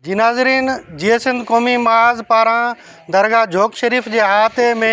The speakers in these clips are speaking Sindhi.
جي ناظرين جيئي سنڌ قومي محاذ پاران درگاهه جوڳ شريف جي احاطي ۾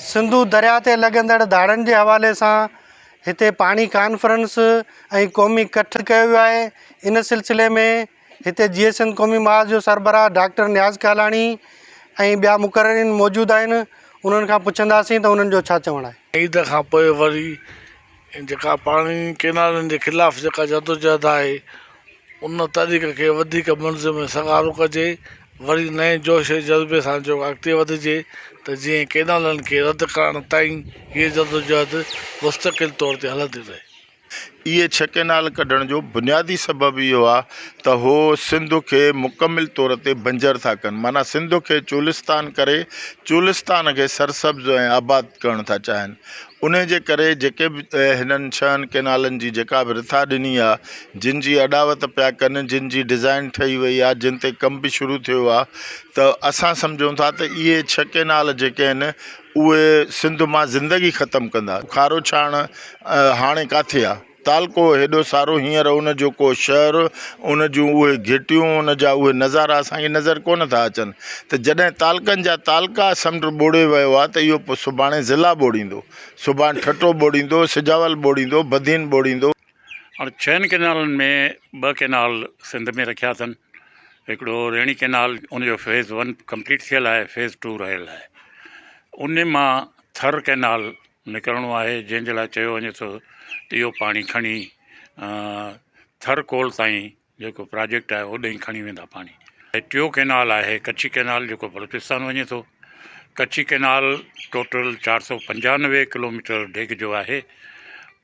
سنڌو درياهه تي لڳندڙ ڌاڙن جي حوالي سان هتي پاڻي ڪانفرنس ۽ قومي ڪٺ ڪيو ويو آهي ان سلسلي ۾ هتي جيئي سنڌ قومي محاذ جو سربراهه ڊاڪٽر نياز ڪالاڻي ۽ ٻيا مقررين موجود آهن انهن کان پڇنداسين ته انهن جو ڇا چوڻ آهي. عيد کان پوء وري جيڪا پاڻي ڪينالن جي خلاف جيڪا جدوجهد آهي ان تحريڪ کي وڌيڪ منظم ۽ سگهارو ڪجي وري نئين جوش ۽ جذبي سان جو اڳتي وڌجي ته جيئن ڪينالن کي رد ڪرڻ تائين هيء جدوجهد مستقل طور تي هلندي رهي. اهي ڇهه ڪينال ڪڍڻ جو بنيادي سبب اهو آ ته هو سنڌ کي مڪمل طور تي بنجر ٿا ڪن معنيٰ سنڌ کي چولستان ڪري چولستان کي سرسبز ۽ آباد ڪرڻ ٿا چاهين. انهيء جي ڪري جيڪي به هنن ڇهن ڪئنالن جي جيڪا به رٿا ڏني آ، جن جي اڏاوت پيا ڪن، جن جي ڊزائين ٺهي وئي آ، جن تي ڪم به شروع ٿيو آ ته اسان سمجهون ٿا ته اهي ڇهه ڪئنال جيڪي آهن اهي سنڌ مان زندگي ختم ڪندا. کاروڇاڻ هاڻي ڪاٿي آ؟ تعلقو هيڏو سارو هينئر ان جو ڪو شهر، ان جون اهي گهٽيون، ان جا اهي نظارا اسان کي نظر ڪونه ٿا اچن ته جڏهن تعلقن جا تعلقا سمنڊ ٻوڙي ويو آ ته اهو پوء سڀاڻي ضلع ٻوڙيندو، سڀان ٺٽو ٻوڙيندو، سجاول ٻوڙيندو، بدين ٻوڙيندو. هاڻ ڇهن ڪئنالن ۾ ٻه ڪئنال سنڌ ۾ رکيا اٿن، هڪڙو ريڻي ڪئنال ان جو فيز ون ڪمپليٽ ٿيل آهي، فيز ٽو رهيل آهي، ان مان ٿر ڪئنال نڪرڻو آهي جنهن جي لاء چيو وڃي ٿو ته اهو پاڻي کڻي ٿر ڪول تائين جيڪو پراجيڪٽ آهي اوڏانهن کڻي ويندا پاڻي ٽيو ڪينال آهي ڪڇي ڪينال جيڪو بلوچستان وڃي ٿو ڪڇي ڪينال ٽوٽل چار سو پنجانوي ڪلوميٽر ڊيگهه جو آهي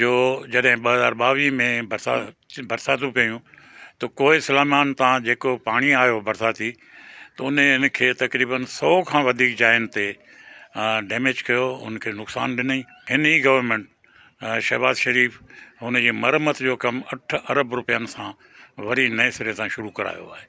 جو جڏهن ٻه هزار ٻاويهه ۾ برسات برساتون پيون ته ڪوهي سليمان تان جيڪو پاڻي آيو برساتي ته ان ان کي تقريبن سو کان وڌيڪ جاين تي ڊيميج ڪيو ان کي نقصان ڏنئي هن ئي گورنمينٽ شهباز شريف هن جي مرمت جو ڪم اٺ ارب روپين سان وري نئين سري سان شروع ڪرايو آهي.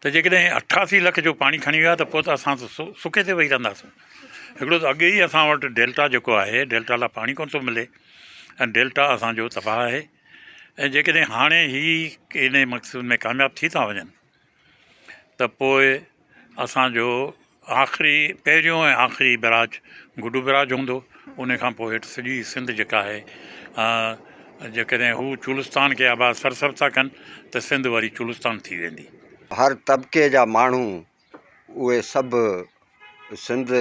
ته جيڪڏهن اٺاسي لک جو پاڻي کڻي ويا ته پوء ته اسان سڪي تي ويهي رهنداسون. هڪڙو ته اڳي ئي اسان وٽ ڊيلٽا جيڪو آهي ڊيلٽا لاء پاڻي ڪونه ٿو ملي ۽ ڊيلٽا اسان جو تباهه آهي ۽ جيڪڏهن هاڻي هي انهي مقصد ۾ ڪامياب ٿي ٿا وڃن ته پوء اسان جو آخري پهريون ۽ آخري بئراج گڊو بئراج هوندو ان کان پوء هيٺ سڄي سنڌ جيڪا آهي جيڪڏهن هو چولستان کي آباد سر سر ٿا ڪن ته سنڌ وري چولستان ٿي ويندي. هر طبقي جا ماڻهو اهي سڀ سنڌ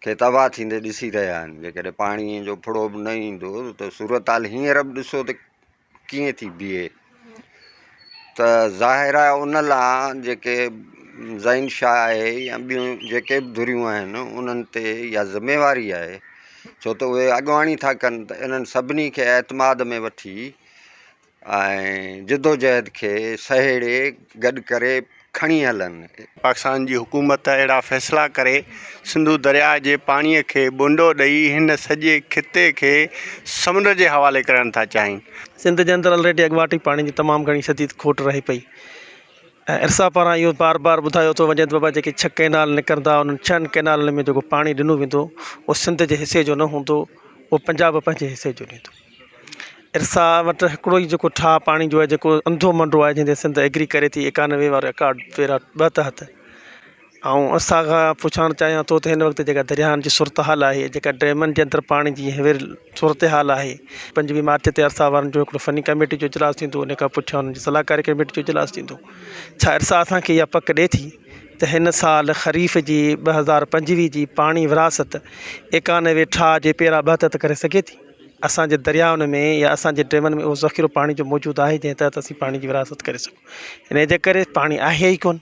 کي تباهه ٿيندي ڏسي رهيا آهن جيڪڏهن پاڻي جو ڦڙو به نه ايندو ته صورتحال هينئر به ڏسو ته ڪيئن ٿي بيهي ته ظاهر آهي ان لا جيڪي زين شاهه آهي يا ٻيون جيڪي بھ ڌريون آهن انهن تي اها ذميواري آهي ڇو ته اهي اڳواڻي ٿا ڪن ته انهن سڀني کي اعتماد ۾ وٺي ۽ جدوجهد کي سهيڙي گڏ ڪري کڻي هلن. پاڪستان جي حڪومت اهڙا فيصلا ڪري سنڌو درياء جي پاڻي کي ٻونڊو ڏئي هن سڄي خطي کي سمنڊ جي حوالي ڪرڻ ٿا چاهين. سنڌ جي اندر الريڊي اڳواٽ ئي پاڻي جي تمام گهڻي شديد کوٽ رهي پئي ۽ ارسا پاران اهو بار بار ٻڌايو ٿو وڃي ته بابا جيڪي ڇهه ڪئنال نڪرندا انهن ڇهن ڪئنالن ۾ جيڪو پاڻي ڏنو ويندو اهو سنڌ جي حصي جو نه هوندو اهو پنجاب پنهنجي حصي جو ڏيندو. ارسا وٽ هڪڙو ئي جيڪو ٺاهه پاڻي جو آهي جيڪو انڌو منڊو آهي جنهن تي سنڌ ايگري ڪري ٿي ايڪانوي وارو رڪارڊ پيرا ٻه تحت آئون ارسا کان پڇڻ چاهيان ٿو ته هن وقت جيڪا درياهن جي صورتحال آهي جيڪا ڊيمن جي اندر پاڻي جي هينئر صورتحال آهي پنجويهه مارچ تي ارسا وارن جو هڪڙو فني ڪميٽي جو اجلاس ٿيندو ان کان پٺيان انهن جي صلاحڪاري ڪميٽي جو اجلاس ٿيندو ڇا ارسا اسان کي اها پڪ ڏئي ٿي ته هن سال خريف جي ٻه هزار پنجويهه جي پاڻي ورهاست ايڪانوي ٺاهه جي پيرا ٻه تحت ڪري سگهي ٿي اسان جي دريائن ۾ يا اسان جي ڊيمن ۾ اهو ذخيرو پاڻي جو موجود آهي جنهن تحت اسين پاڻي جي ورهاست ڪري سگهون انهيء جي ڪري پاڻي آهي ئي ڪونه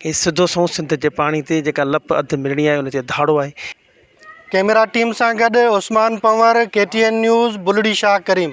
هي سڌو سنئون سنڌ جي پاڻي تي جيڪا لپ اڌ ملڻي آهي ان تي ڌاڙو آهي. ڪئميرا ٽيم سان گڏ Usman Panhwar, K T N news, Bulri Shah ڪريم.